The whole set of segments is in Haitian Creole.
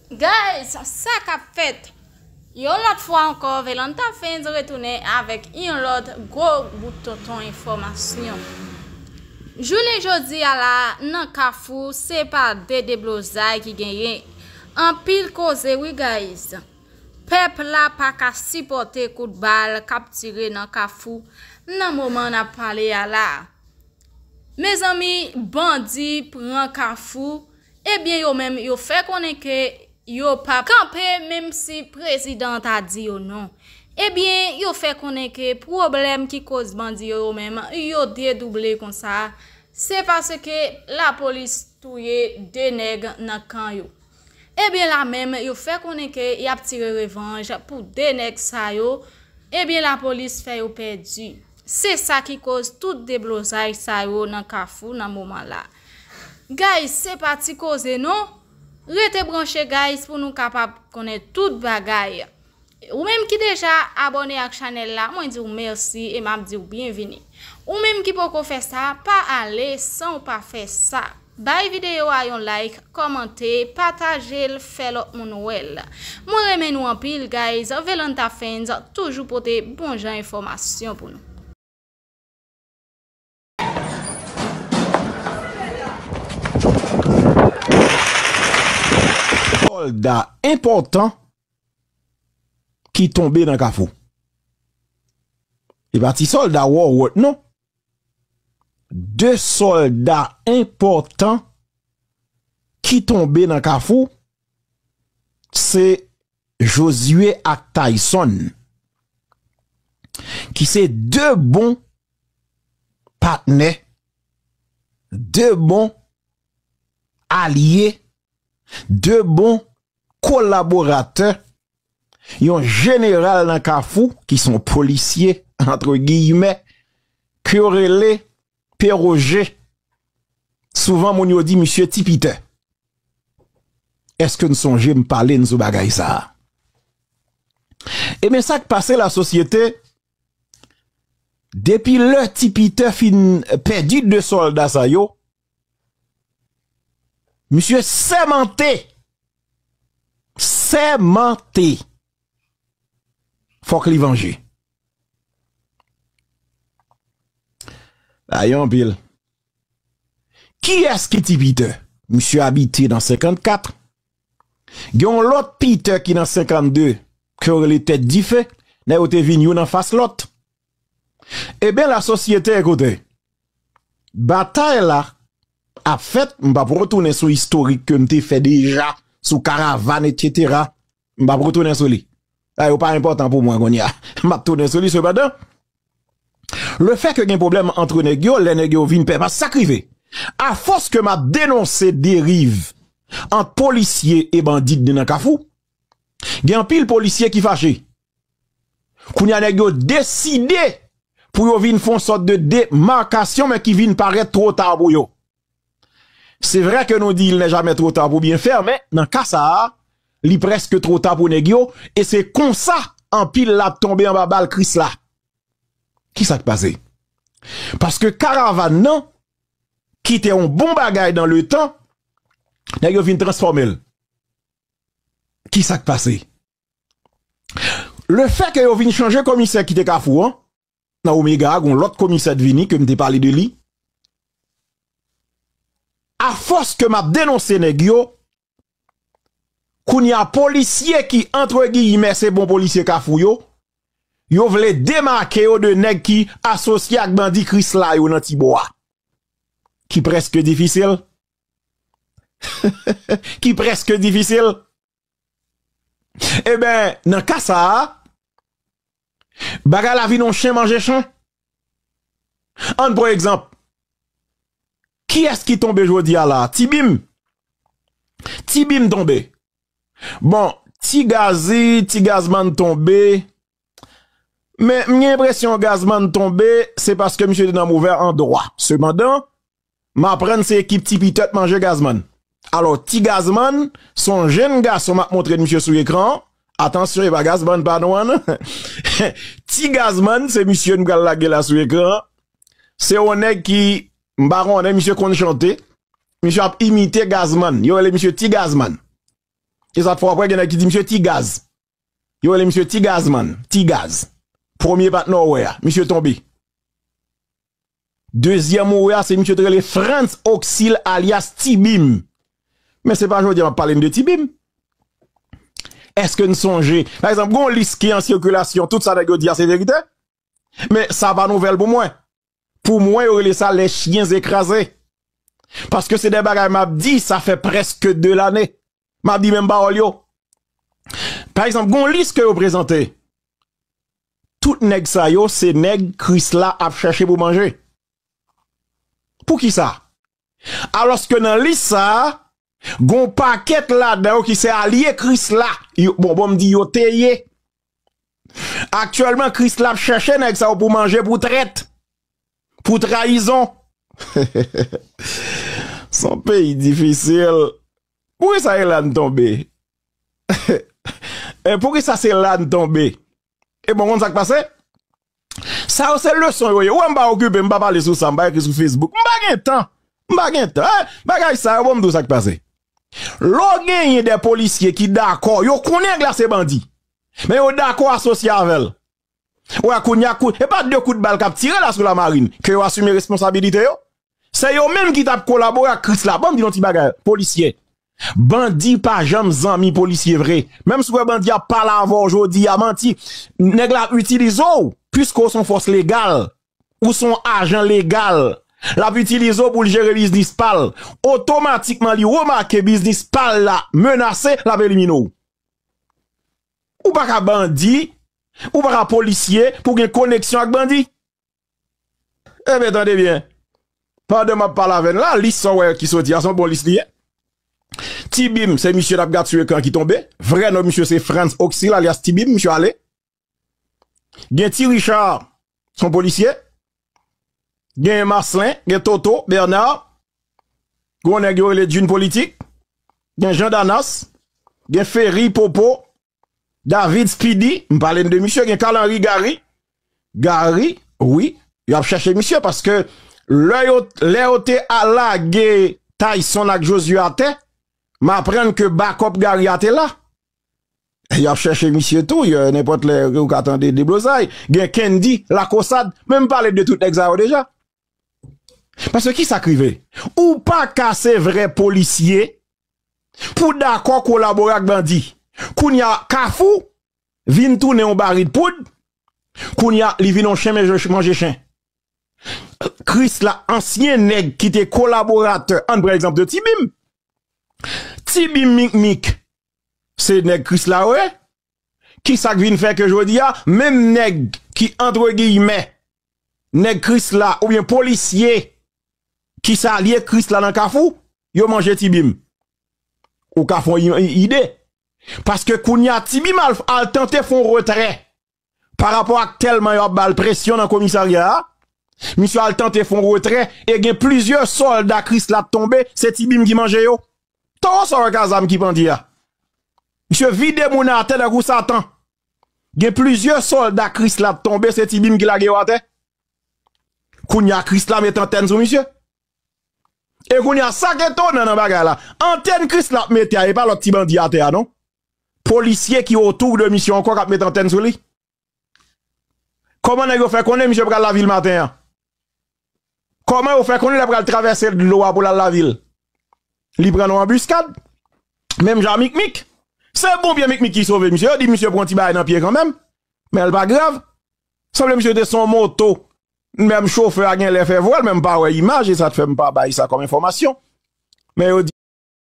Guys sa kap fèt. Yon lòt fwa ankò Velanta Fans retounen avèk yon lòt gwo bout tonton enfòmasyon jounen jodi a la nan kafou se pa de deblozay ki genyen anpil koze wi guys pèp la pa ka sipòte kout bal kap tire nan kafou nan moman nap pale a la mezanmi bandi pran kafou. Ebyen yo menm yo fè konnen ke yo pap kanpe menm si prezidan an ta di yo non. Ebyen yo fè konnen ke pwoblèm ki koz bandi yo yo menm yo dedouble konsa se paske lapolis touye 2 nèg nan kan yo. Ebyen la menm yo fè konnen ke yap tire revanj pou 2 nèg sa yo ebyen lapolis fè yo pèdi. Se sa ki koz tout deblozay sa yo nan kafou nan moman la. Guys se pa ti koze non. Rete branche guys pou nou kapab konnen tout bagay. Ou menm ki deja abone ak chanel la mwen diw merci e map diw byenvini. Ou menm ki poko fè sa pa ale sanw pa fè sa. Bay video a yon like, kòmante, patajel fè lòt moun wèl. Mwen renmen nou anpil guys Velanta Fans toujou pote bon jan enfòmasyon pou nou. Solda enpòtan ki tonbe nan kafou. E pa ti solda wò wòt non. De solda enpòtan ki tonbe nan kafou se Josué ak Tayson ki se 2 bon patnè 2 bon alye 2 bon kolaboratè yon jeneral nan kafou ki son polisye antre giyimè ke yo rele Pè Roje, souvan moun yo di misye ti pitè. Eske n sonje m pale n sou bagay sa a? Ebyen sa k pase la sosyete, depi lè ti pitè fin pèdi 2 sòlda sa yo, misye sèmante, sèmante! fòk li vanje. Sa ye anpil. Kiyès ki ti Peter? Misye abite nan 54. Gen yon lòt Peter ki nan 52 ke yo rele tèt dife. Nèg yo te vin youn an fas lòt. Eben la sosyete ekoute. Batay la ap fèt m pa p retounen sou istorik ke m te fè deja sou karavan et cetera. M pap retounen sou li. Sa yo pa enpòtan pou mwen kounye a. M pap tounen sou li sepandan. Le fè ke gen pwoblèm antre nèg yo, lè nèg yo vin pè pas, sa k rive. A fòs ke m ap denonse deriv ant polisye e bandi k gen nan kafou, gen anpil polisye ki fache. Kounye a nèg yo deside pou yo vin fon sòt de demarkasyon men ki vin parèt two ta pou yo. Se vrè ke nou di il nè jamè two ta pou byen fè, men nan ka sa a, li prèske two ta pou nèg yo, e se konsa anpil la ap tonbe anba bal Kris la. Ki sa k pase? Paske karavàn nan, ki te yon bon bagay dan le tan, nèg yo vin transfòme l. Ki sa k pase? Le fè ke yo vin chanje komisè ki te kafou an, nan omega a gon lòt komisè t vini kem te pale de li a fòs ke map denonse nèg yo kounye a polisye ki antre giyimè se bon polisye kafou yo yo vle demake yo de nèg ki asosye ak bandi krisla yo nan tibò a ki preske difisil he he he ki preske difisil. E ben, nan ka sa a, bagay la vin yon chen manje chen. An n pran egzanp, kiyès ki tonbe jodi a la a? Ti Bim. Ti Bim tonbe. Bon, Ti Gazi, Ti Gazman tonbe. Men, m gen enpresyon Gazman tonbe, se paske misye te nan movè andwa. Sepandan, m aprann se ekip Ti Pitè t manje Gazman. Alò, Ti Gazman, s on jenn gason m ap montre misye sou ekran an. Atansyon, e pa Gazman pa nou an non. Ti Gazman, se misye n pral lage la sou ekran an. Se on nèg ki, m pa konnen, misye konn chante. Misye ap imite Gazman. Yo rele misye Ti Gazman. E sa fè w ap wè gen nèg ki di misye Ti Gaz. Yo rele misye Ti Gaz man, Ti Gaz. Premye patnè w wè a, misye tonbe. Dezyèm ou wè a, se misye te rele Frantz Oxil alyas Ti Bim. Men se pa jodi a m ap pale n de Ti Bim. Eske n sonje, pa egzanp, gen yon lis ki an sikilasyon, tout sa nèg yo di a se verite? Men sa pa nouvèl pou mwen. Pou mwen yo rele sa les chiens ecrases. Paske se de bagay map di sa fè preske 2 lane. Map di menm pawòl yo. Pa egzanp gon lis ke yo prezante. Tout nèg sa yo se nèg krisla ap chache pou manje. Pou kisa? Alòske nan lis sa a, gon pakèt ladan yo ki se alye Krisla, bon bon m di yo te ye. Aktyèlman Krisla ap chèche nèg sa yo pou manje pou trèt, pou trayizon. Son peyi difisil. Poukisa e la n tonbe? Poukisa se la n tonbe? E bon, ou konn sa k pase? Sa yo se leson yo ye. Ou wè m pa okipe, m pa pale sou sa, m pa ekri sou Facebook. M pa gen tan. M pa gen tan. Eh! Bagay sa yo, bon m di w sa k pase. Lè w genyen de polisye ki dakò, yo konnen nèg la se bandi. Men yo dakò asosye avè l. Ou wè kounye a, e pa de kout bal k ap tire la sou Lamarine, ke yo asime responsabilite yo? Se yo menm ki tap kolabore ak krisla banm di nou ti bagay polisye bandi pa janm zanmi polisye vre menm si ou wè bandi ap pale avèw jodi a manti nèg la ap itilize w piske ou son fòs legal ou son ajan legal lap itilize w poul jere biznis pal otomatikman li remake biznis pal la menase lap elimine w ou paka bandi ou paka polisye pou gen koneksyon ak bandi. Enben tande byen, pandan m ap pale avè n la, lis sa w wè ki soti a se yon bon lis li ye. Ti Bim se misye n ap gad sou ekran an ki tonbe. Vrè non misye se Frantz Oxil alyas Ti Bim, misye ale. Gen Ti Richa, se yon polisye. Gen Maslen, gen Toto, Bèna, gen yon nèg yo rele Djin Politik, gen Jan Danas, gen Feri, Popo, David speedy m pale n de misye gen Carl Henry Garry Garry wi yo ap chache misye paske lè yo lè yo te a lage Tyson ak Josué atè m aprann ke bakòp Garry a te la yo ap chache misye tou yo nenpòt lè ou ka tande deblozay gen Kendy Lacausade men m pale de tout nèg sa yo deja. Paske kisa k rive? Ou pa ka se vrè polisye pou dakò kolabore ak bandi. Kounye a Kafou vin tounen yon barid poud, kounye a li vin yon chen manje chen. Krisla, ansyen nèg ki te kolaboratè, an n pran egzanp de Tibim. Tibim Mikmik se nèg Krisla yo ye. Ki sa k vin fè ke jodi a, menm nèg ki antre giyimè, nèg krisla oubyen polisye ki salye krisla nan kafou, yo manje ti bim? Ou ka fon yon ide. Paske kounye a ti bim al al tante fon retrè pa rapò ak tèlman yo ap ba l presyon nan komisarya a, misye al tante fon retrè e gen plizyè sòlda krisla tonbe, se ti bim ki manje yo. Toro sa wè kazam ki pandye a misye vide moun atè tankou satan gen plizyè solda kris la t tonbe se ti bim ki lage yo atè kounya kris la met antèn sou misye e kounya sak etonan nan bagay la antèn kris la ap mete a epa lòt ti bandi atè a non polisye ki otou de misye ankò kap met antèn sou li. Koman nèg yo fè konnen misye pral lavil maten an? Koman yo fè konnen lè pral travèse dlo a pou lal lavil? Li pran nou anbiskad? Menm jan a Mikmik? Se ponpye Mikmik ki sove misye, yo di misye pran ti bagay nan pye kanmenm, men l pa grav. Sanble misye te sou yon moto, menm chofè a genlè fè vwèl men m pa wè imaj e sa t fè m pa bay sa kòm enfòmasyon. Men yo di.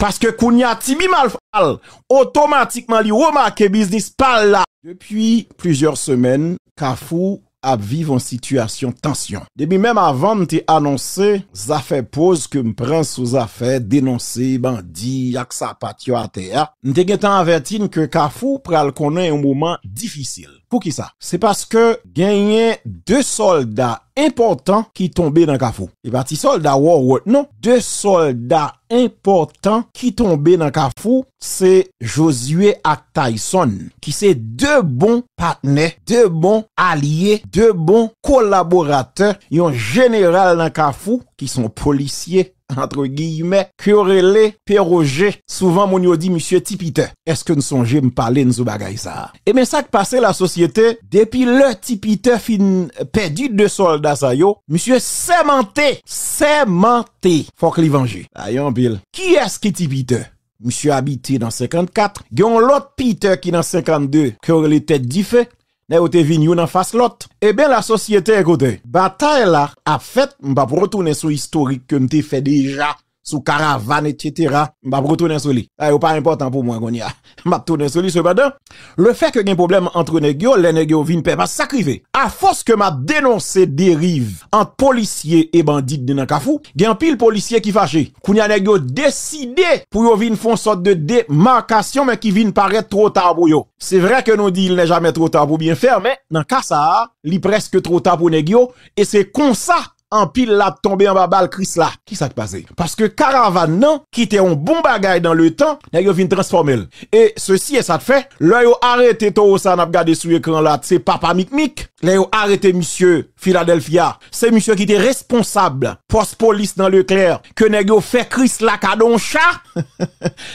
Paske kounya Tibi Malfal otomatikman li remake biznis pa l la. Depi plizyè semèn, Kafou ap viv yon sitiyasyon tansyon. Depi menm avan m te anonse zafè poz ke m pran sou zafè denonse bandi ak sapat yo atè a, m te gentan avèti n ke Kafou pral konnen yon moman difisil. Poukisa? Se paske genyen 2 sòlda enpòtan ki tonbe nan Kafou. Se pa ti sòlda wòwòt non. 2 sòlda enpòtan ki tonbe nan Kafou, se Josué ak Tayson, ki se 2 bon patnè, 2 bon alye, 2 bon kolaboratè yon jeneral nan Kafou ki son polisye antre giyimè, ke yo rele Pe Roje, souvan moun yo di misye Ti Pitè. Èske n sonje m pale n sou bagay sa a? Ebyen sa k pase lasosyete, depi lè Ti Pitè fin pèdi de sòlda sa yo, misye sèmante, sèmante fòk li vanje. Sa ye anpil. Kiyès ki Ti Pitè? misye abite nan 54, gen yon lòt Peter ki nan 52 ke yo rele tèt dife, nèg yo te vin youn anfas lòt. Eben lasosyete ekoute, batay la ap fèt, m p ap retounen sou istorik ke m te fè deja sou karavàn etsetera, m p ap retounen sou li, sa yo pa enpòtan pou mwen kounye a, m ap tounen sou li sepandan. Le fè ke gen pwoblèm antre nèg yo, lè nèg yo vin pè paske sa k rive. A fòs ke m ap denonse deriv ant polisye e bandi dne nan Kafou, gen anpil polisye ki fache. Kounye a nèg yo deside pou yo vin fon sòt de demarkasyon men ki vin parèt two ta pou yo. Se vre ke nou di il nè jamè two ta pou byen fè men nan ka sa a li prèske two ta pou nèg yo e se konsa anpil la ap tonbe anba bal krisla. Ki sa k pase? Paske karavan nan ki te yon bon bagay dan le tan, nèg yo vin transfòme l. E sesi e sa t fè, lè yo arete towo sa a n ap gade sou ekran la, se Papa Mikmik, lè yo arete misye Philadelphia, se misye ki te responsab pòs polis nan Leclerc, ke nèg yo fè krisla kado yon cha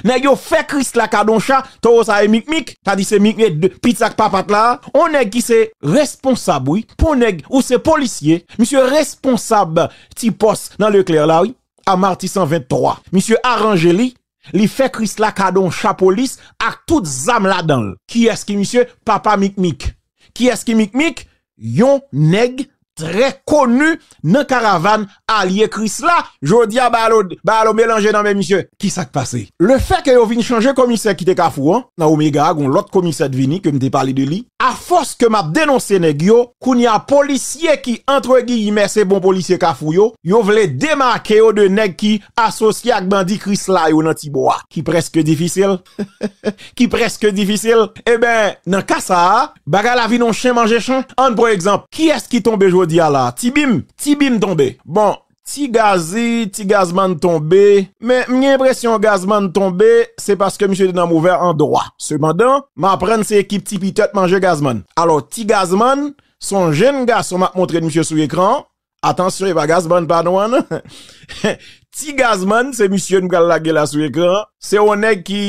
nèg yo fè krisla kado yon cha towo sa e mikmik ta di se mikmik de piti ak papat la yon nèg ki se responsab wi pou nèg ou se polisye misye responsab ti pòs nan leklè la wi a marti 123 misye aranje li Li fè Krisla kado yon chapo lis ak tout zam ladan l. Kiyès ki misye? Papa Mikmik. Kiyès ki Mikmik? Yon nèg trè koni nan karavàn alye Krisla. Jodi a Bayalo melanje nan men misye. Ki sa k pase? Lefè ke yo vin chanje komisè ki te Kafou an, nan Omega a gen yon lòt komisè t vini ke m te pale de li. Afòs ke m ap denonse nèg yo, Kounya polisye ki antre giyimè se bon polisye kafou yo, yo vle demake yo de nèg ki asosye ak bandi krisla yo nan tibò a. Ki prèske difisil. Ki prèske difisil. Eben, nan ka sa a, bagay la vin yon chen manje chen. Ann pran egzanp, kiyès ki tonbe jodi a la a? Ti Bim? Ti Bim tonbe. Bon, Ti Gazzy, ti Gazzman tonbe, men m gen enpresyon Gazzman tonbe se paske misye te nan movè andwa. Sepandan, m aprann se ekip Ti Pitè t manje Gazzman. Alò, ti Gazzman, s on jenn gason m ap montre n misye sou ekran an. Atansyon, e pa Gazzman pa nou an non. Ti Gazzman, se misye n pral lage la sou ekran an. Se on nèg ki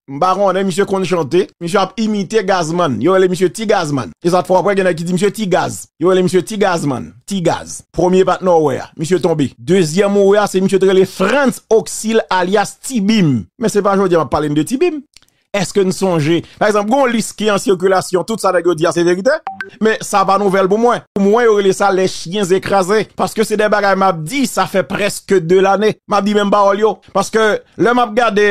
M pa konnen misye konn chante, misye ap imite Gazman, yo rele misye Ti Gazman. E sa t fò vre gen nèg ki di misye Ti Gaz. Yo rele misye Ti Gazman, Ti Gaz. Premye patnè w wè a, misye tonbe. Dezyèm ou wè a se misye te rele Frantz Oksil alyas Ti Bim. Men se pa jodi a m ap pale n de Ti Bim. Èske n sonje, pa egzanp, gen yon lis ki an sikilasyon, tout sa nèg yo di a se verite, men sa pa nouvèl pou mwen. Pou mwen yo rele sa les chiens écrasés, paske se de bagay m ap di sa fè prèske 2 lane m ap di menm pawòl yo. Paske lè map gade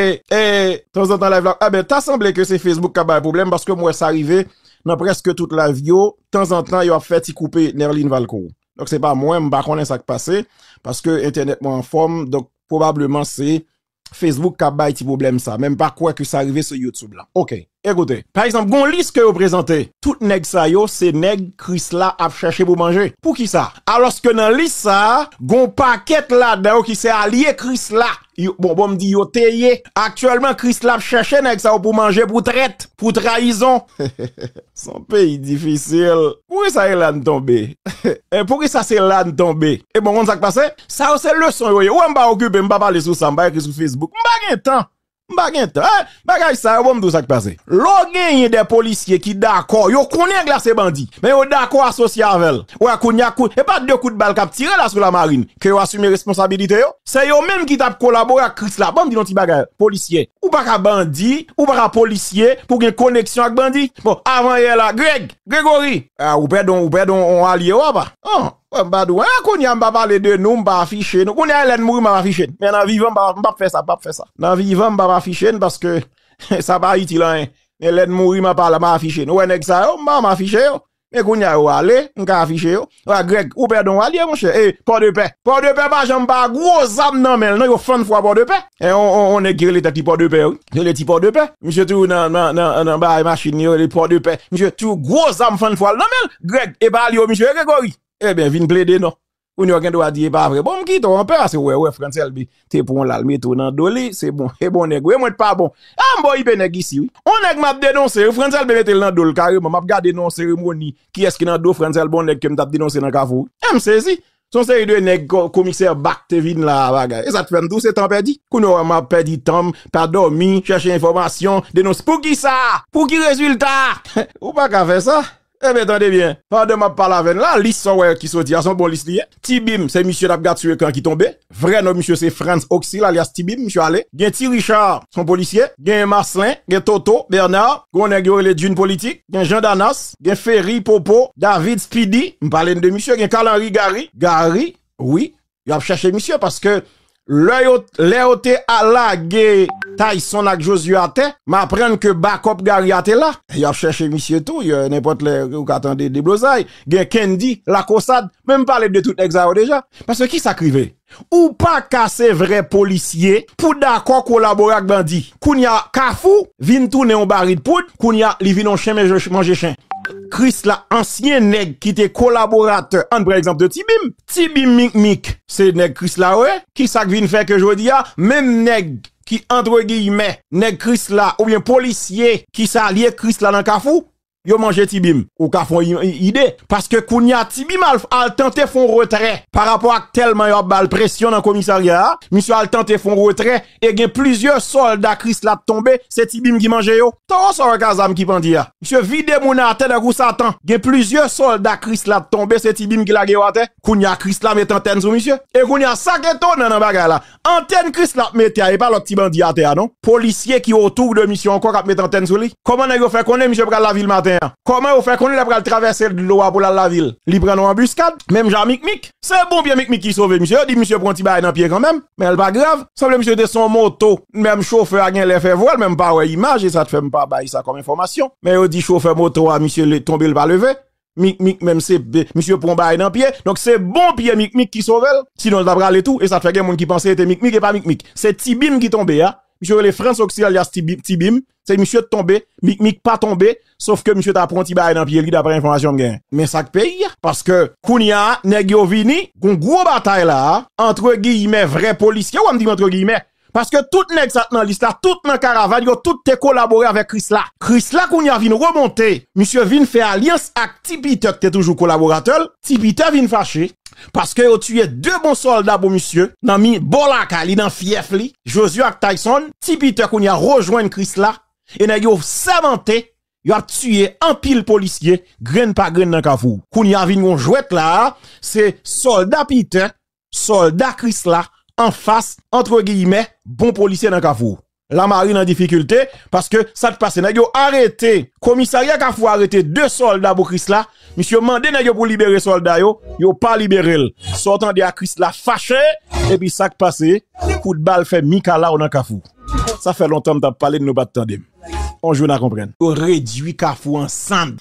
tanzantan live la, enben ta sanble ke se Facebook kap bay pwoblèm paske m wè sa rive nan prèske tout live yo, tanzantan yo ap fè ti koupe Nerline Valcourt. Donk se pa mwen, m pa konnen sak pase, paske entènèt mwen anfòm, donk pwobableman se Facebook kap bay ti pwoblèm sa, men m pa kwè ke sa rive sou YouTube la. Oke. E koute, pa egzanp, gon lis ke yo prezante. Tout nèg sa yo se nèg Krisla ap chèche pou manje. Poukisa? Alòske nan lis sa a, gon pakèt ladan yo ki se alye Krisla. Yo, bon, bon m di yo te ye. Aktyèlman, Krisla ap chèche nèg sa yo pou manje, pou trèt, pou trayizon. Son peyi difisil. Poukisa e la n tonbe? E poukisa se la n tonbe? E bon, konn sa k pase? Sa yo se leson yo ye. Wè m pa okipe, m pa pale sou sa, m pa ekri sou Facebook. M pa gen tan! M pa gen tan eh bagay sa yo bon m di w sa k pase. Lè w genyen de polisye ki dakò, yo konnen nèg la se bandi, men yo dakò asosye avè l, ou wè kounya kou, e pa de kout bal k ap tire la sou lamarin, ke yo asime responsabilite yo? Se yo menm ki t ap kolabore ak Kris la. Ban m di n yon ti bagay, polisye, ou pa ka bandi, ou pa ka polisye pou w gen koneksyon ak bandi. Bon, avan yè la, Greg, Gregory, ah ou pèdi yon, ou pèdi yon alye w apa? An! Bon, m pa di w anyen kounye a, m pa pale de nou, m pa afiche nou. Kounye a, lè n mouri, m ap afiche n. Men nan vivan, m pap fè sa, m pap fè sa. Nan vivan, m pap afiche n, paske sa pa itil anyen. Men lè n mouri, m ap pale, m ap afiche nou. Ou wè nèg sa yo, m pa janm afiche yo. Men kounye a, yo ale, m ka afiche yo. Ou wè Grèg, ou pè Donwalye, monchè, e Pòdepè. Pòdepè pa janm pa gwo zam nan men l non, yo fann fwa Pòdepè. E yon nèg ki rele tèt li pòdepè wi, yo rele ti pòdepè, misye toujou nan bagay machin li yo rele pòdepè, misye toujou gwo zam fann fwa l nan men l, Grèg, e pa li yo misye ye Gregori? Eben vin plede non, kounye a w gen dwa di e pa vre, bon m kite w anpè paske w wè, w wè Frantz Elbe te pran w la l mete w nan do li, se bon, e bon nèg ou ye mwen t pa bon, a m boyipe nèg isi wi, yon nèg m ap denonse wi, Frantz Elbe mete l nan do l kareman, m ap gade nan yon seremoni kiyès ki nan do Frantz Elbe yon nèg ke m t ap denonse nan kafou wi, e m sezi, Son seri de nèg komisè bak te vin la a bagay e sa t fèm di w se tan pèdi kounye w wè map pèdi tan m pa dòmi chèche enfòmasyon denons poukisa pou ki rezilta ou pa ka fè sa ebyen tande byen pandan map pale avè n la lis sa w wè ki soti a son bon lis li ye ti bim se misye nap gad sou ekran ki tonbe vrè non misye se Frantz Oxil alyas ti bim misye ale gen ti Richard son polisye gen Marcelin gen Toto Bernard gon nèg yo rele Djinn politik. gen Jean Danas, gen Ferry Popo, David Speedy, m pale n de misye, gen Carl Henry Garry, Garry wi, yo ap chache misye paske lè yo, lè yo te al lage Tyson ak Josué atè, m aprann ke bakòp Garry a te la, yo ap chache misye tou, yo nenpòt lè ou ka tande deblozay, gen Kendy, Lakosad, men m pale de tout nèg sa yo deja, paske kisa k rive? Ou paka se vrè polisye pou dakò kolabore ak bandi. Kounya kafou vin tounen yon barid poud, kounya li vin yon chen manje chen. Krisla ansyen nèg ki te kolaboratè ann pran egzanp de Ti Bim. Ti Bim Mikmik se nèg Krisla yo ye. Kisa k vin fè ke jodi a menm nèg ki antre giyimè nèg Krisla oubyen polisye ki salye Krisla nan kafou yo manje ti bim. Ou ka fon yon ide. Paske kounya ti bim al al tante fon retrè pa rapò ak tèlman yo ap bal presyon nan komisarya a, misye al tante fon retrè e gen plizyè sòlda krisla tonbe se ti bim ki manje yo. Towo sa wè kazam ki pandye a. Misye vide moun atè tankou satan. Gen plizyè sòlda krisla tonbe se ti bim ki lage yo atè. Kounya krisla met antèn sou misye. E kounya sak etonan nan bagay la Antèn Christ lap mete a e pa lòt ti bandi atè a non. Polisye ki otour de misye ankò kap met antèn sou li? Kòman nèg yo fè konnen misye pral lavil maten an? Kòman yo fè konnen lè pral travèse dlo a pou lal lavil? Li pran nan anbuskad? Menm jan a Mikmik? Se bon pye Mikmik ki sove misye, yo di misye pran yon ti bagay nan pye kanmenm, men l pa grav. Sanble misye te sou yon moto, menm chofè a genlè fè vwèl men m pa wè imaj e sa t fè m pa bay sa kòm enfòmasyon. Men yo di chofè moto a misye tonbe l pa leve. Mik mik menm se misye pwan bagay nan pye donk se bon pye mik mik ki sovel sinon l ta prale tou e sa fè gen moun ki panse e te mik mik e pa mik mik se ti bim ki tonbe a misye rele frantz oxyalias ti bim se misye t tonbe mik mik pa tonbe sof ke misye ta pwan ti bagay nan pye li daprè enfòmasyon m gen men sak peyi a paske kounya nèg yo vini gon gwo batay la antre giyimè vrè polisye wè m di antre giyimè Paske tout nèg sa k nan lis la, tout nan karavan yo, tout te kolabore avèk Krisla. Krisla kounye a vin remonte, misye vin fè alyans ak Ti Pitè k te toujou kolaboratè l. Ti Pitè vin fache, paske yo tiye 2 bon sòlda pou misye, nan mi bò lakay li, nan fyèf li, Josué ak Tayson. Ti Pitè kounye a rejwenn Krisla, e nèg yo sèmante yo ap tiye anpil polisye, grenn pa grenn nan Kafou. Kounye a vin gon jwèt la a, se sòlda Pitè sòlda kris la anfas antre giyimè bon polisye nan kafou la mari nan difikilte paske sa t pase nèg yo arete komisarya kafou arete 2 sòlda pou kris la misye mande nèg yo pou libere sòlda yo yo pa libere l sa w tande a kris la fache epi sa k pase kout bal fè mikalaw nan kafou sa fè lontan m t ap pale n nou pa t tande m. On jou na konprann. Yo redwi kafou an sand.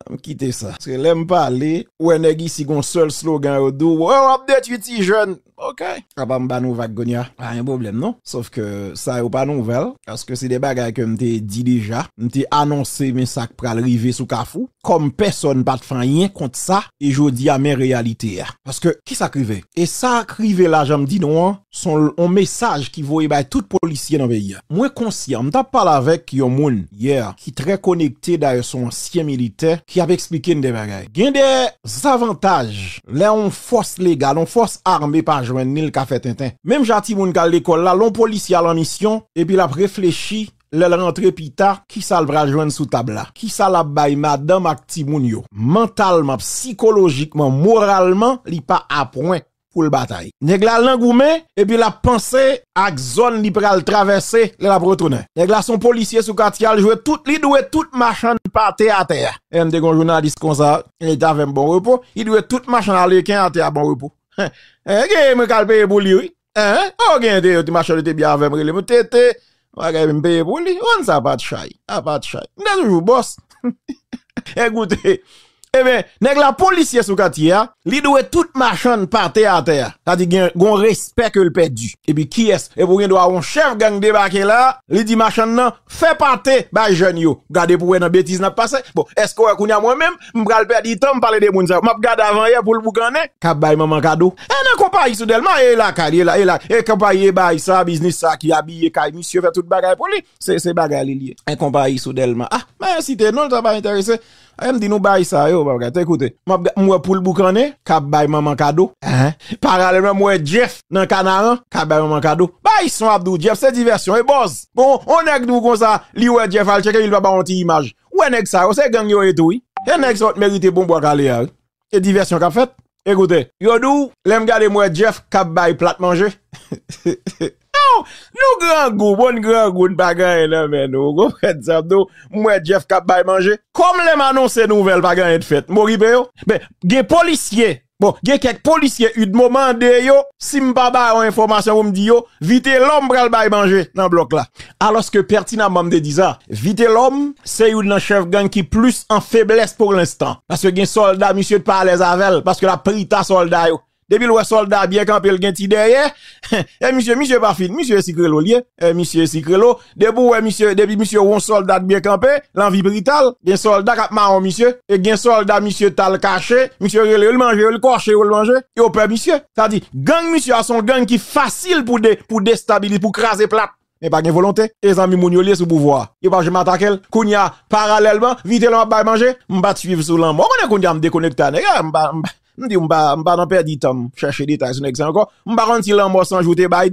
Anm kite sa. Paske lèm pale, ou wè nèg isi gon sèl slogan yo di w, oh wap detwi ti jèn. Ok. Apa m ba nou vag kounya? Pa gen pwoblèm non. Sof ke sa yo pa nouvèl. Paske se de bagay ke m te di deja. M te anonse men sa k pral rive sou kafou. Kòm pèsòn pa t fè anyen kont sa. E jodi a men reyalite a. Paske kisa k rive? E sa k rive la jan m di nou an, Se yon mesaj ki voye bay tout polisye nan peyi a. Mwen konsyan, m t ap pale avèk yon moun yè ki trè konekte dayè se yon ansyen militè ki ap esplike n de bagay. Gen de zavantaj lè yon fòs legal, yon fòs ame pa jwenn ni l ka fè tenten. Menm jan timoun k al lekòl la, lè yon polisye al an misyon epi l ap reflechi lè l rantre pita ki sa l pral jwenn sou tab la, ki sa l ap bay madanm ak timoun yo, mantalman, psikolojikman, moralman li pa apwen. pou l batay. Nèg la al nan goumen epi l ap panse ak zòn li pral travèse lè l ap retounen. Nèg la se yon polisye sou katye al jwe tout li dwe tout machann pate atè a. Emen m te gen yon jounalis konsa li t avè m bon repo li dwe tout machann aleken atè a bon repo eeh gen mwen k al peye pou li wi eeh oo gen yon machann yo te byen avè m rele m TT Bagay m peye pou li. Wan sa pat chay. A pat chay. M te toujou bòs. E goute. E ben, nèg la polisye sou katye a. Li dwe tout machann pate atè a. Sa di gen yon respè ke l pèdi. E pi kiyès? E pou gen dwa yon chèf gang debake la, li di machann nan, fè pate bay jèn yo. Gade pou wè nan betiz n ap pase. Bon, èske w wè kounye a mwen menm, M pral pèdi tan m pale de moun sa yo. M ap gade avanyè pou l boukannen. K ap bay manman kado. E nan konpayi sou Dèlma e lakay li, e la, e konpayi e baay sa, biznis sa ki abiye kay misye, fè tout bagay pou li. Se, se bagay li l ye. E konpayi sou Dèlma. A! M a site non l, sa pa enterese. E m di nou baay sa yo, pa gate. Koute, m ap gade, m wè pou l boukannen. K ap bay manman kado. Ehe. Paralèlman m wè Jeff nan kanaran. K ap bay manman kado. Baay son ap di w Jeff se divèsyon, e bòz. Bon, on nèg di w konsa, li wè Jeff al tcheke li, li pa ba w on ti imaj. Ou wè nèg sa yo se gang yo ye tou wi. He nèg sa yo t merite bon bwa kale a wi. E divèsyon kap fèt? Ekoute. Yo di w lèm gade m wè Jeff kap bay plat manje oh nou grangou bon n grangou n pa gen anyen nan men nou ou konprann sa m di w m wè Jeff kap bay manje. Kòm lèm anonse nouvèl pa gen anyen t fèt m okipe yo. Men gen polisye Bon, gen kèk polisye udmo mande yo, si m pa ba yo enfòmasyon pou m di yo, Vitelòm pral bay manje nan blòk la. Alòske pètinamman m te di sa, Vitelòm se youn nan chèf gang ki plis an feblès pou lenstan. Paske gen sòlda misye pa alèz avè l, paske l ap prita sòlda yo. Depi l wè sòlda byen kanpe l gen ti dèyè, Eh misye, misye pa fin, misye e sikrelo l ye, eh misye e sikrelo, depi ou wè misye, depi misye wè yon sòlda t byen kanpe, lan vi brital, gen sòlda kap mawon misye, e gen sòlda misye tal kache, misye rele yo li manje yo, li kòche yo li manje, yo pè misye, sa di, gang misye a son gang ki fasil pou de, pou destabilize, pou kraze plat. Men pa gen volonte, e zanmi moun yo liye sou pouvwa. Yo pa janm atakel. Kounya, paralèlman, Vitelòm ap bay manje. M pa t swiv sou lanmò. Ou konnen kounya m dekonekte a nèg la. M pa, m pa, m di w m pa, m pa nan pèdi tan m chèche detay sou nèg sa ankò. M pa konn si lanmò 100 jou te bay.